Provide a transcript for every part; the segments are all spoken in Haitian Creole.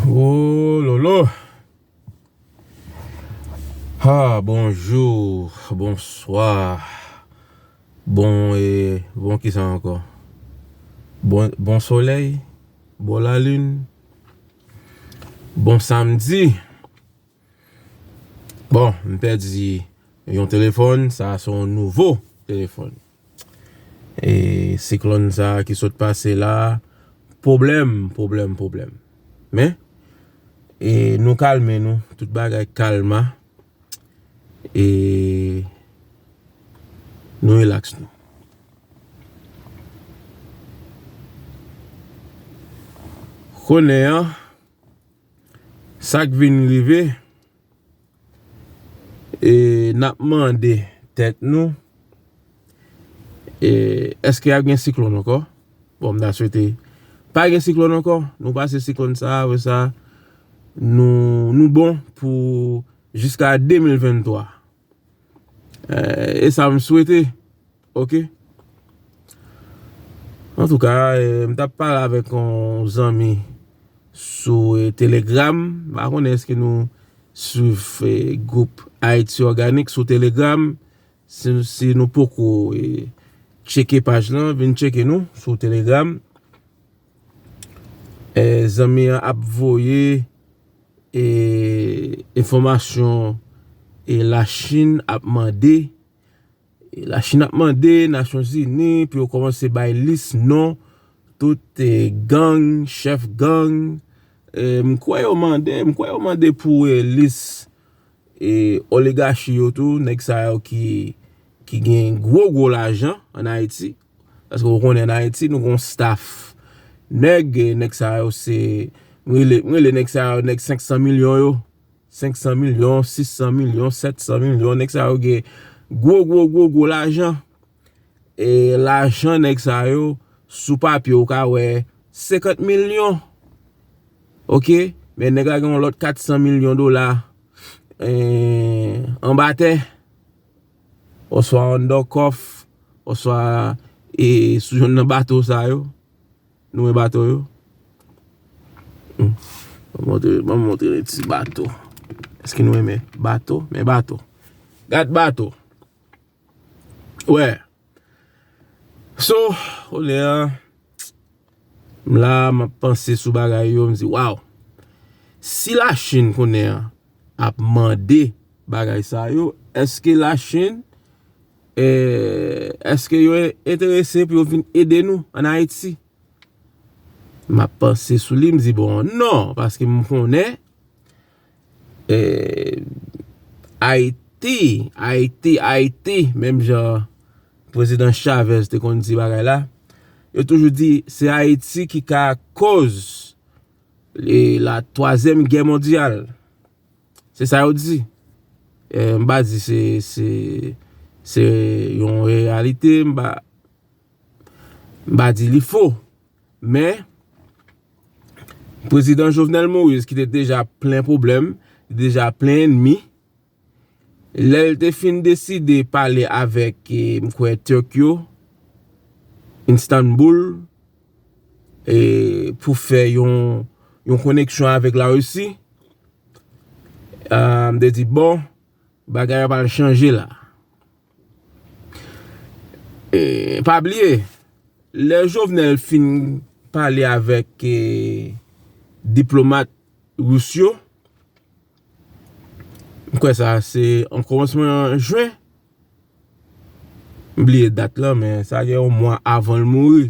Ooh lolo Haa bonjour bonsoir bon ee bon kisa ankò bon bon solèy bon la lune bon samedi bon m pèdi yon telefòn sa son nouvo telefòn. E siklòn sa ki sot pase la Pwoblèm pwoblèm pwoblèm Men E nou kalme nou Tout bagay kalma E Nou relaks nou Konnen an Sak vin rive E nap mande tèt nou eske ap gen siklon ankò? Bon mta swete pa gen siklon ankò, nou pase siklon sa a vre sa a nou bon pou jiska 2023. E sa m swete ok. Antouka m tap pale avèk yon zanmi sou telegram m pa konnen èske nou swiv gwoup Ayiti òganik sou telegram si nou poko tcheke paj lan vin tcheke nou sou telegram. Zanmi an ap voye enfòmasyon e la chine ap mande la chine ap mande nasyon zini pou yo kòmanse bay lis non tout gang chèf gang m kwè yo mande m kwè yo mande pou lis e oligachi yo tou nèk sa yo ki gen gwo gwo lajan an ayiti Paske ou konnen an Ayiti nou gen yon staff nèg, nèg sa yo se, m rele nèg sa yo nèg 500 milyon yo, 500 milyon, 600 milyon, 700 milyon, nèg sa yo gen gwo gwo gwo gwo lajan. E lajan nèg sa yo sou papye ou ka wè 50 milyon. Ok, men nèg la gen yon lòt 400 milyon dola anba tè. oswa an dò kòf, oswa e sou youn nan bato sa yo, nou wè bato yo? Banm montre nou ti bato, èske nou wè men bato, men bato, gad bato, wè, so, kounye a. M la a map panse sou bagay yo m di waw si la chine konnen an ap mande bagay sa yo eske la chine eske yo enterese pou yo vin ede nou an ayiti map panse sou li m di bon non paske m konnen Ayiti, Ayiti, Ayiti, menm jan Prezidan Chavez te konn di bagay la, yo toujou di se Ayiti ki ka koz la twazyèm gè mondyal. Se sa yo di. M pa di se yon reyalite, m pa di li fo. Men, Prezidan Jovenel Moïse ki te deja plen pwoblèm, ki te deja plen enmi, lè l te fin deside pale avèk, m kwè, Turk yo, Instanboul, pou fè yon koneksyon avèk la Russie, m te di, bon, bagay yo pa l chanje la. Pa bliye, lè Jovenel fin pale avèk diplomat rous yo, m kwè sa se an koumansman jwen, m bliye dat lan men sa gen yon mwa avan l mouri.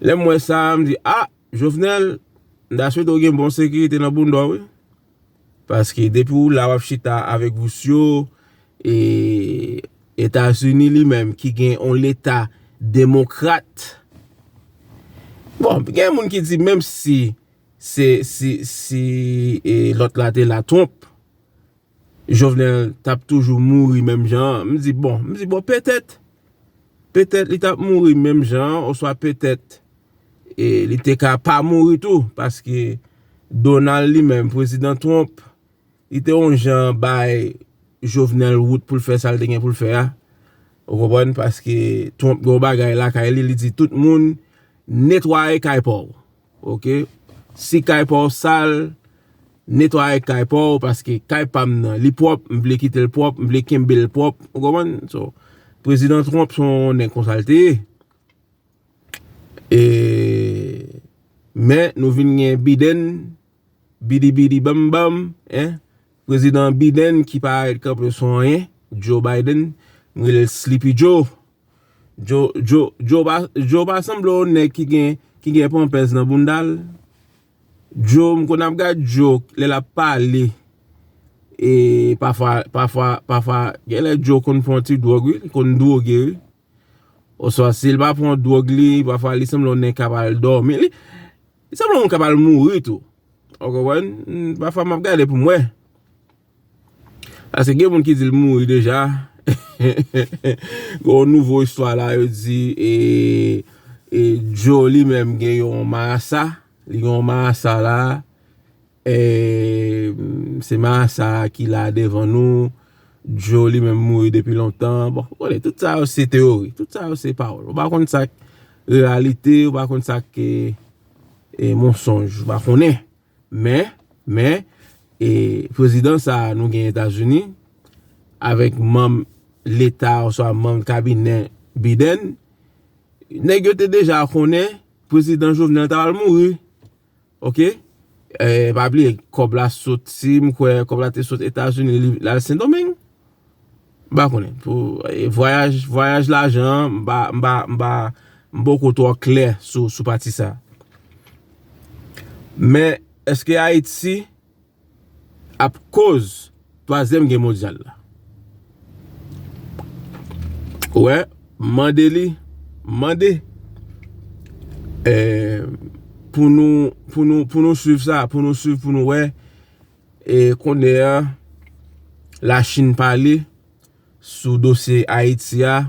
Lè m wè sa a, m di, a, Jovenel, m ta swete w gen bon sekirite nan bounda w wi. Paske depi w la w ap chita avèk vous yo, e Etazini li menm ki gen yon leta demokrat. Bon, gen moun ki di menm si, si, si, si lòt la te la Trump. Jovenel tap toujou mouri menm jan an, m di bon, m di bon petèt, petèt li tap mouri menm jan an oswa petèt li te ka pa mouri tou paske Donald li menm, prezidan Trump li te yon jan bay Jovenel wout pou l fè sa l te gen pou l fè a, ou konprann, paske Trump gen yon bagay lakay li, li di tout moun netwaye kay pa w. Ok si kay pa w sal netwaye kay pa w paske kay pa m nan li pwòp m vle kite l pwòp m vle kenbe l pwòp ou konprann so prezidan Trump se yon nèg konsa l te ye e men nou vin gen Biden bidi bidi bam bam prezidan Biden ki parèt kanpe sou anyen Joe Biden m rele l Slipi Joe Joe pa sanble yon nèg ki gen pampers nan bounda l. Joe m konn ap gad Joe lè l ap pale e pafwa pafwa pafwa gen lè Joe konn pran yon ti dwòg wi li konn dwoge wi. Oswa si l pa pran dwòg li pafwa li sanble yon nèg k ap al dòmi li sanble yon moun k ap al mouri tou. Ou konprann? Pafwa m ap gade pou m wè. Paske gen moun ki di l mouri deja. Gen yon nouvo istwa la yo di e Djo li menm gen yon marasa. Li gen yon marasa la. E se marasa ki la devan nou. Djo li menm mouri depi lontan. Bon, ou konnen, tout sa yo se teori. Tout sa yo se pawol. Ou pa konn sa k reyalite, ou pa konn sa k monsonj. Ou pa konnen. Men, men, e prezidan sa a nou gen Etazini, avèk manm leta oswa manm kabinè Biden, nèg yo te deja konnen prezidan Jovenel ta pral mouri. Ok? E pa bliye, kòb la soti, m kwè, kòb la te soti Etazini, li al Sendomeng. M pa konnen. Vwayaj lajan an, m pa, m pa, m pa, m poko twò klè sou, sou pati sa. Men, eske Ayiti ap koz twazyèm gè mondyal la? Ou wè, m mande li, m mande. Pou nou, pou nou, pou nou swiv sa, pou nou swiv, pou nou wè, E konde a, la chine pale sou dosye Haiti a,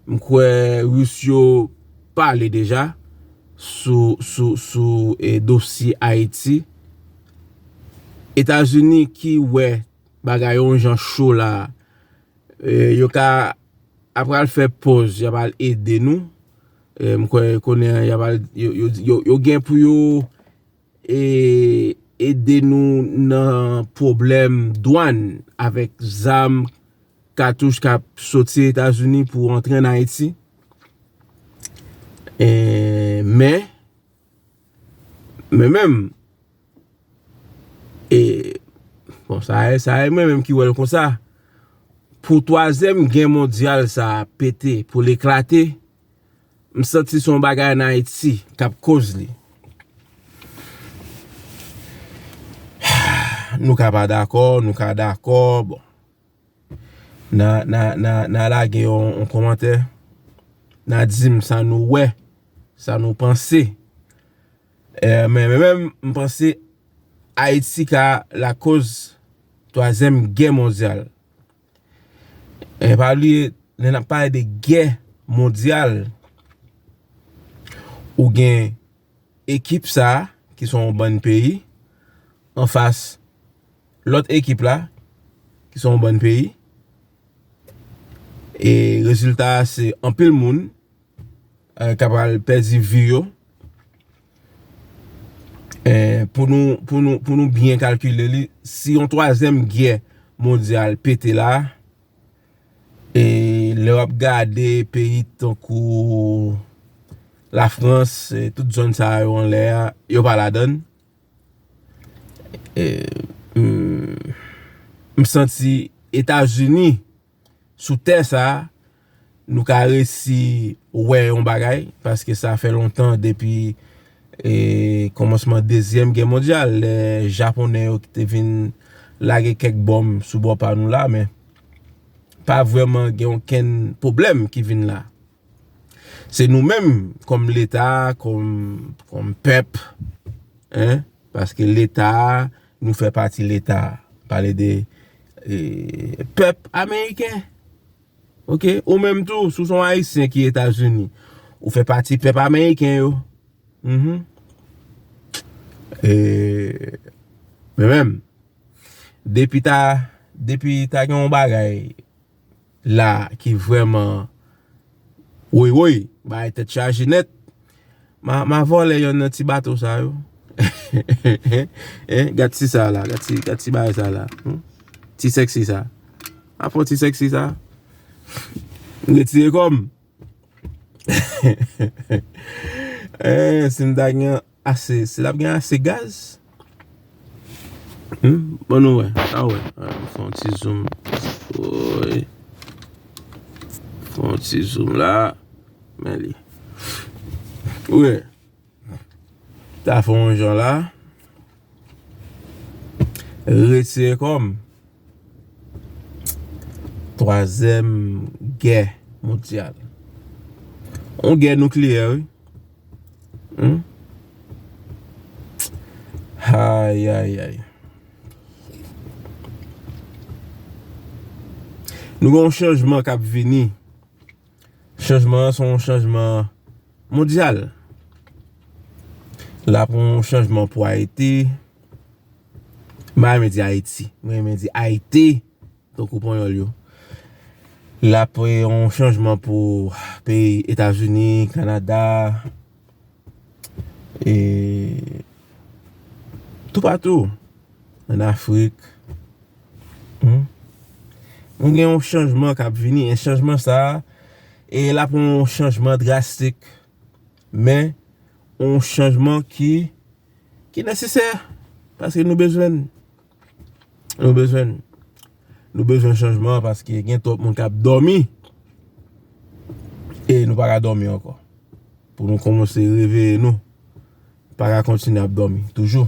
m kwe Russe yo pale deja sou dosye Haiti. Etazini ki we bagay yon jan cho la, yo ka apral fe poz, yo apral ede nou. M kwe konde a, yo gen pou yo. Ede nou nan pwoblèm dwàn avèk zam, katouch k ap soti Etazini pou antre an Ayiti. Men, mwen menm, e, bon, sa e mwen menm ki wè l konsa, pou twazyèm gè mondyal sa a pete, pou l eklate, M santi son bagay an ayiti kap koz li. Nou ka pa dakò, nou ka dakò, bon. Nan lage yon komantè, nan dim sa nou wè, sa nou panse. Men men men m panse ayiti ka la koz 3 ème gè mondyal. E pa bliye lè nap pale de gè mondyal ou gen ekip sa ki son yon bann peyi anfas lòt ekip la ki son yon bann peyi e rezilta se anpil moun. ta pral pèdi vi yo pou nou byen kalkile li si yon twazyèm gè mondyal pete la e lè wap gade peyi tankou la frans tout zòn sa yo anlè a yo pa ladann m santi etazini sou tè sa a, nou ka resi wè yon bagay, paske sa fè lontan depi kòmansman dezyèm gè mondyal, lè Japonè yo ki te vin lage kèk bonm sou bò pa nou la, men, pa vrèman gen okenn pwoblèm ki vin la. Se nou menm, kòm Leta, kòm pèp, paske Leta, Nou fè pati leta a. Pale de pèp ameriken. Ok. Ou menm tou, si w se yon ayisyen ki Etazini, ou fè pati pèp ameriken yo. Mh. E, men menm, depi ta, depi ta gen yon bagay. la ki vreman woy woy bagay tet chaje net ma vole yon nan ti bato sa yo eeh gad ti sa la gad ti bagay sa la ti sexy sa ma pran ti sexy sa m retire kom eeh eeh si m ta gen yon Ase si lap gen ase gaz. Humm bon nou wè sa wè nou fè yon ti zoom woy fè yon ti zoom la men li ou wè ta fè yon jan la retire kòm twazèm gè mondyal yon gè noukliyè wi. Humm Ayayayy Nou gen yon chanjman kap vini Chanjman an son yon chanjman mondyal La pou yon chanjman pou Ayiti M pa renmen di Ayiti M renmen di Ayiti Tankou panyòl yo. Lap yon chanjman pou peyi Etazini, Kanada, e toupatou. An Afrik. Mwen gen yon chanjman kap vini. E chanjman sa, e lap yon chanjman drastik. Men, yon chanjman ki nesesè. Paske nou bezwen. Nou bezwen Nou bezwen chanjman paske gen twòp moun kap dòmi E nou pa ka dòmi ankò Pou nou kòmanse reveye nou Pa ka kontinye ap dòmi toujou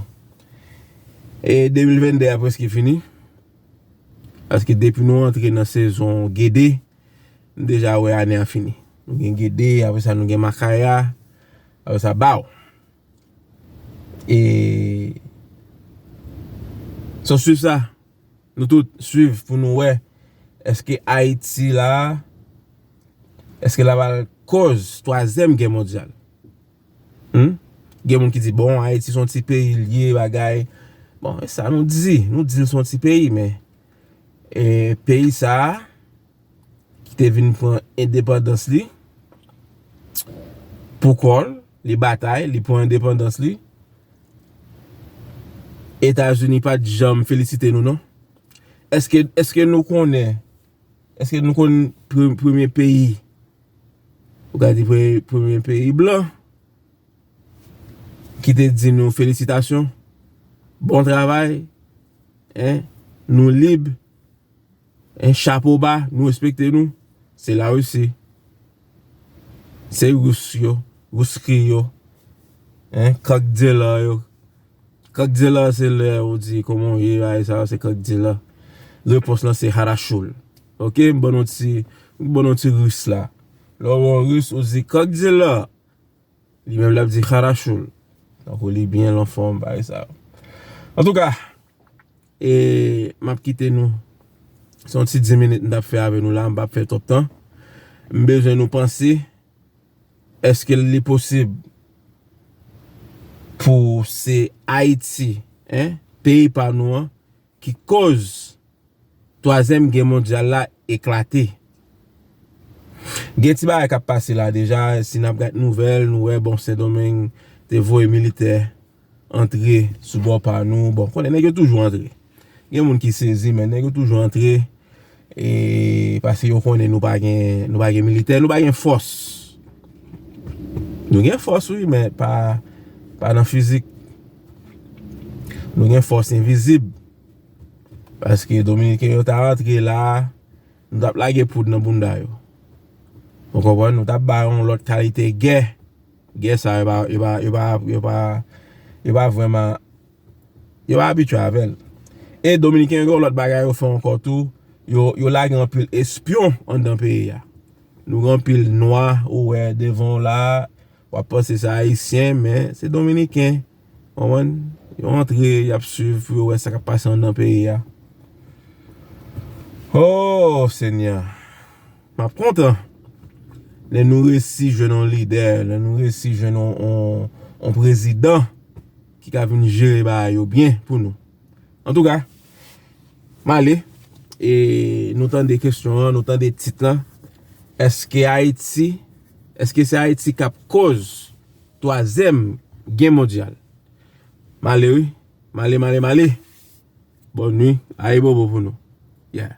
E 2022 a preske fini Paske depi nou antre nan sezon gede Nou deja wè ane a fini Nou gen gede apre sa nou gen makaya Apre sa baw E se w swiv sa nou tout swiv pou nou wè eske Ayiti la eske la pral koz twazyèm gè mondyal. Hum gen moun ki di bon Ayiti son ti peyi l ye bagay bon e sa nou di nou di l son ti peyi men e peyi sa. ki te vin pran endepandans li pou kò l, li batay, li pran endepandans li. Etazini pa t janm felisite nou non. Eske, eske nou konnen, eske nou konn premye peyi, ou ka di premye peyi blan, ki te di nou felisitasyon, bon travay, hein, nou lib. Hein chapo ba nou respekte nou se la russie se rus yo ruski yo hein kòk dealer yo kòk dealer se lè ou di kòman ou ye bagay sa yo se kòk dealer repons lan se harashul ok m ban nou ti m ban nou ti rus la lè ou wè yon rus ou di kòk dealer li menm lap di harashul tankou li byen anfòm bagay sa yo antouka. E map kite nou. Se yon ti 10 minit mtap fè avè nou la, m pap fè twòp tan. M bezwen nou panse, eske li posib pou se Ayiti, en, peyi pa nou an, ki kòz twazyèm gè mondyal la eklate? Gen ti bagay kap pase la deja, si nap gad nouvèl, nou wè bon Sendomeng te voye militè. antre sou bò pa nou bon konnen nèg yo toujou antre gen moun ki sezi men nèg yo toujou antre e paske yo konnen nou pa gen nou pa gen militè nou pa gen fòs nou gen fòs wi men pa pa nan fizik nou gen fòs envizib paske dominiken yo ta antre la nou tap lage poud nan bounda yo ou konprann nou tap ba yon lòt kalite gè. Gè sa yo pa vreman yo pa abitye avèl. E dominiken gen yon lòt bagay yo fè ankò tou, yo lage anpil espyon anndan peyi a. Nou gen anpil nwa ou wè devan w la, wap panse se ayisyen men se dominiken. Konprann? Yo antre, y ap swiv pou yo wè sa k ap pase anndan peyi a. O Senyè! M ap kontan lè nou resi jwenn yon lidè, lè nou resi jwenn yon prezidan ki ka vin jere bagay yo byen pou nou. Antouka, m ale e nou tande kesyon an, nou tande tit lan, Eske Ayiti, eske se Ayiti k ap koz? Twazyèm gè mondyal. Male wi. Male male male. Bòn nwi. Ayibobo pou nou. Yeah.